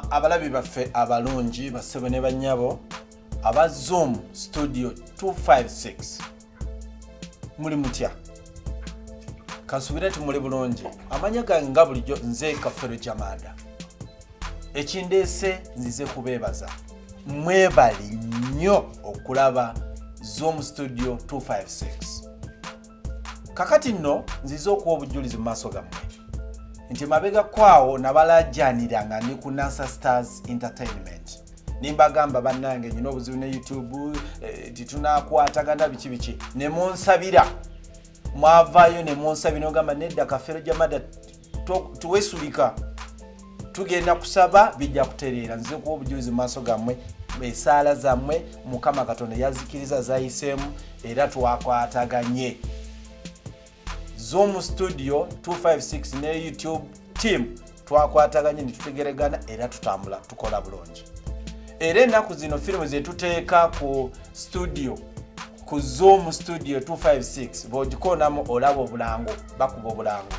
abalabi baffe abalungi bassebo ne bannyabo aba zoom studio 256 muli mutya kansubire ti muli bulungi amanya gange nga bulijjo nze kafero jamanda ekindeese nzize kubeebaza mwebali nnyo okulaba zoom studio 256 kakati nno nzize okuwa obujjulizi mu maaso gammwe nti mabega kwawo nabalajanira nga ndi ku nasa stars entertainment nimbagamba bannange nyina obuzibu ne youtube eh, titunakwatagana biki biki nemunsabira mwavayo nemunsabira ogamba nedda kafero jamada tewesulika tugenda kusaba bijja kutereera nze kuba obujulizi mu maaso gammwe esaala zammwe mukama katonda yazikiriza zayiseemu era twakwataganye zoom studio 256 ne youtube team twakwataganye netutegeregana era tutambula tukola bulungi era ennaku zino firimu zetuteeka ku studio ku zoom studio 256 bwogikoonamu olaba obulango bakuba obulango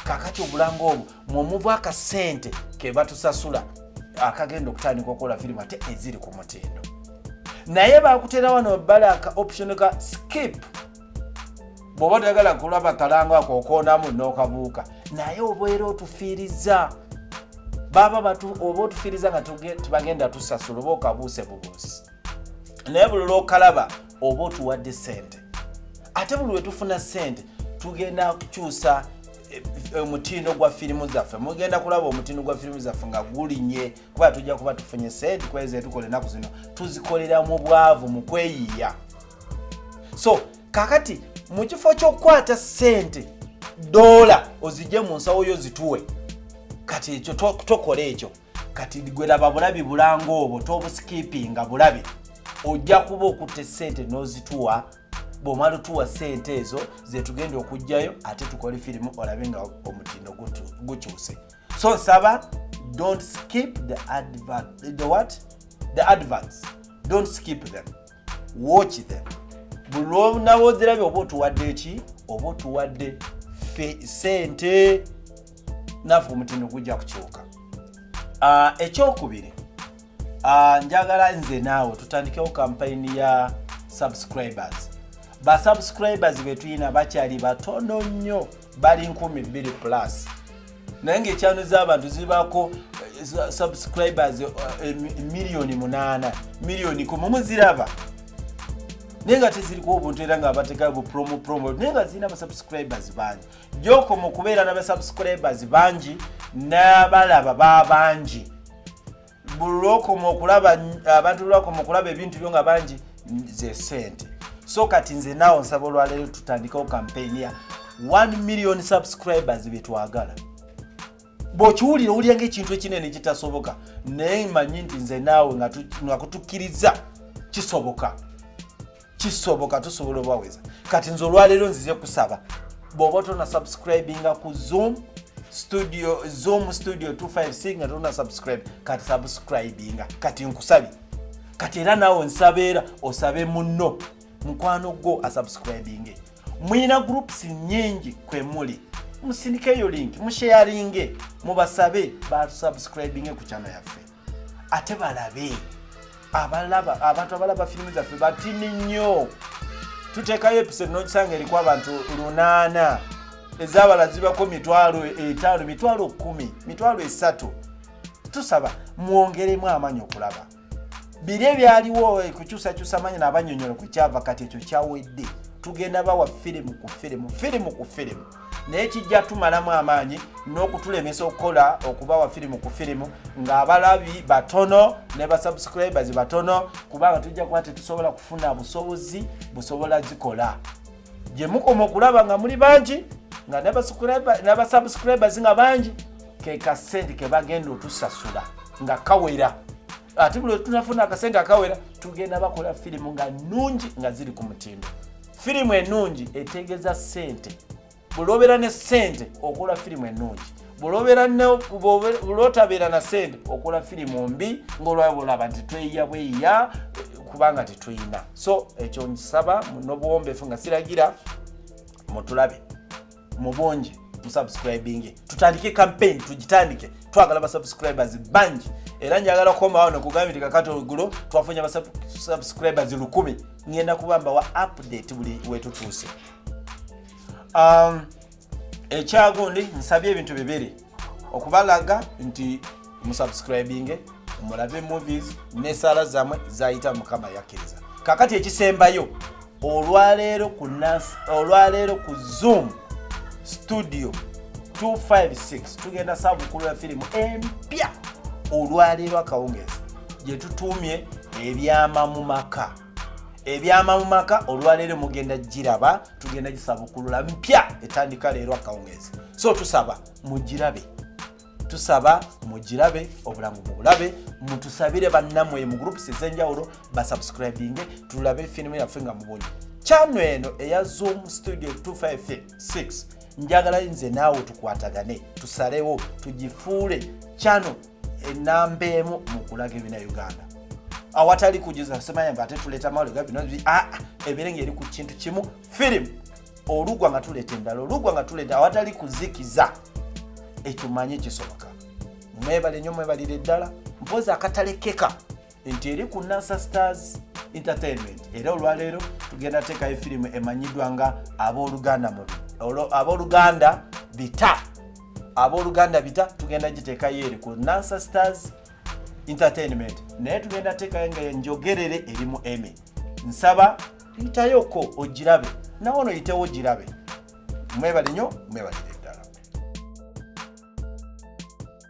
kakati obulango obwo mwomuvu akasente kebatusasula akagenda okutandika okukola firimu ate eziri ku mutindo naye bakutera wano bala ka option ka skip bwoba toyagala kulaba kalango ako okoonamu nokabuuka naye obeera otufiiriza baba oba otufiiriza nga tubagenda tusasula oba okabuuse bubuusi naye buli lwokalaba oba otuwadde sente ate buli wetufuna sente tugenda kukyusa eh, eh, omutindo gwa firimu zaffe mugenda kulaba omutindo gwa firimu zaffe nga gulinye kuba tujja kuba tufunye sente kweza etukola enaku zino tuzikolera mu bwavu mu kweyiya so kakati mu kifo kyokukwata sente dola ozije mu nsawo yo zituwe kati ekyo tokola ekyo to kati gwe laba bulabi bulanga obwo tobusikipinga bulabi ojja kuba okutta esente n'ozituwa bwomala otuwa sente ezo zetugenda okugjayo ate tukole firimu olabe nga omutindo gukyuse so nsaba don't skip the advert, the what the adverts don't skip them watch them bulwonawo ozirabye oba otuwadde eki oba otuwadde sente naafe omutindo gujja kukyuka ah, ekyokubiri ah, njagala nze naawe tutandikewo kampayini ya subscribers ba subscribers betulina bakyali batono nnyo bali 12 plus naye ngaekyano z'abantu zibako eh, subscribers eh, eh, miliyoni munaana miliyoni kumu muziraba naye nga teziriko obuntu era nga bateka bupromo promo naye nga zirina basubscribers bangi gyoko mu kubeera na basubscribers bangi n'abalaba babangi bulwokoma okulaba abantu lwakoma okulaba ebintu byo nga bangi ze sente so kati nze naawe nsaba olwaleero tutandikewo kampeyini ya 1 million subscribers byetwagala bwokiwulira owulira ngaekintu ekinene kitasoboka naye manyi nti nze naawe nga kutukkiriza kisoboka kisoboka tusobola obaweza kati nze olwaleero nzize kusaba bwoba tona subscribinga ku zoom studio zoom studio 256 nga tona subscribe kati subscribinga kati nkusabi kati era naawe nsabeera osabe munno mukwano gwo asubscribinge mulina groups nyingi kwe muli musindikeyo link musheyaringe mubasabe basubscribinge ku kyano yaffe ate balabe abalaba abantu abalaba firimu zaffe batini nnyo tuteekayo episode nokisanga eriku abantu lunaana ezabala zibako mitwalo etaano mitwalo kumi mitwalo esatu tusaba mwongeremu amaanyi okulaba biri ebyaliwo eh, kukyusakyusa manyi nabanyonyola kwekyava kati ekyo kyawedde tugenda bawa firimu ku firimu firimu ku firimu naye kijja tumalamu amaanyi n'okutulemesa okukola okubawa firimu ku firimu ng'abalabi batono ne basubscribers batono kubanga tujja kuba tetusobola kufuna busobozi busobola zikola gye mukoma okulaba nga muli bangi nga n'abasubscribers nga bangi ke kasente ke bagenda otusasula nga kawera ate buli wetunafuna akasente akawera tugenda bakola firimu nga nungi nga ziri ku mutindo firimu ennungi etegeeza ssente bwolwobeera ne ssente okola firimu ennungi bwolwotabeera na ssente okola firimu mbi ngaolwaba olaba nti tweyiya bweyiya kubanga tetuyina so ekyo nkisaba nobuwombefu nga siragira mutulabe mubungi musubscribinge tutandike campaign tugitandike twagala basubscribers bangi era njagala kukomawo nekugambye nti kakati ogulo twafunye abasubscribers lukumi ngenda kubamba wa update buli wetutuuse um, ekyagundi nsabye ebintu bibiri okubalaga nti musubscribinge mulabe movies nesaala zamwe zayita mukama yakkiriza kakati ekisembayo olwaleero ku olwaleero ku zoom studio 256 tugenda sabukulu ya firimu empya olwaleero akawungezi gyetutuumye ebyama mu maka ebyama mu maka olwaleero mugenda giraba tugenda gisabukulula mpya etandika leero akawungeezi so tusaba mugirabe tusaba mugirabe obulamu bubulabe mutusabire bannamwe mu groups ezenjawulo basubscribinge tulabe firimu yaffe nga mubunyi kyano eno eya zoom studio 256 njagala nze naawe tukwatagane tusalewo tugifuule kyano enamba emu mukulaga ebina uganda awatali kujuza semanya mba ate tuleta mawuli gabi nozi a ah, ah, ebirenga eri ku kintu kimu film olugwa nga tuleta endala olugwa nga tuleta awatali kuzikiza ekyo manye kisoboka mwebale nyo mwebalire ddala mpozi akatalekeka nti eri ku nasa stars entertainment era olwaleero tugenda teekayo firimu emanyiddwa nga abooluganda mubi abooluganda bita abooluganda bita tugenda giteekayo eri ku nasa stars entertainment naye tugenda teekayo nga enjogerere eri mu emy nsaba yitayoko ogirabe nawe ono yitewo ogirabe mwebale nyo mwebalire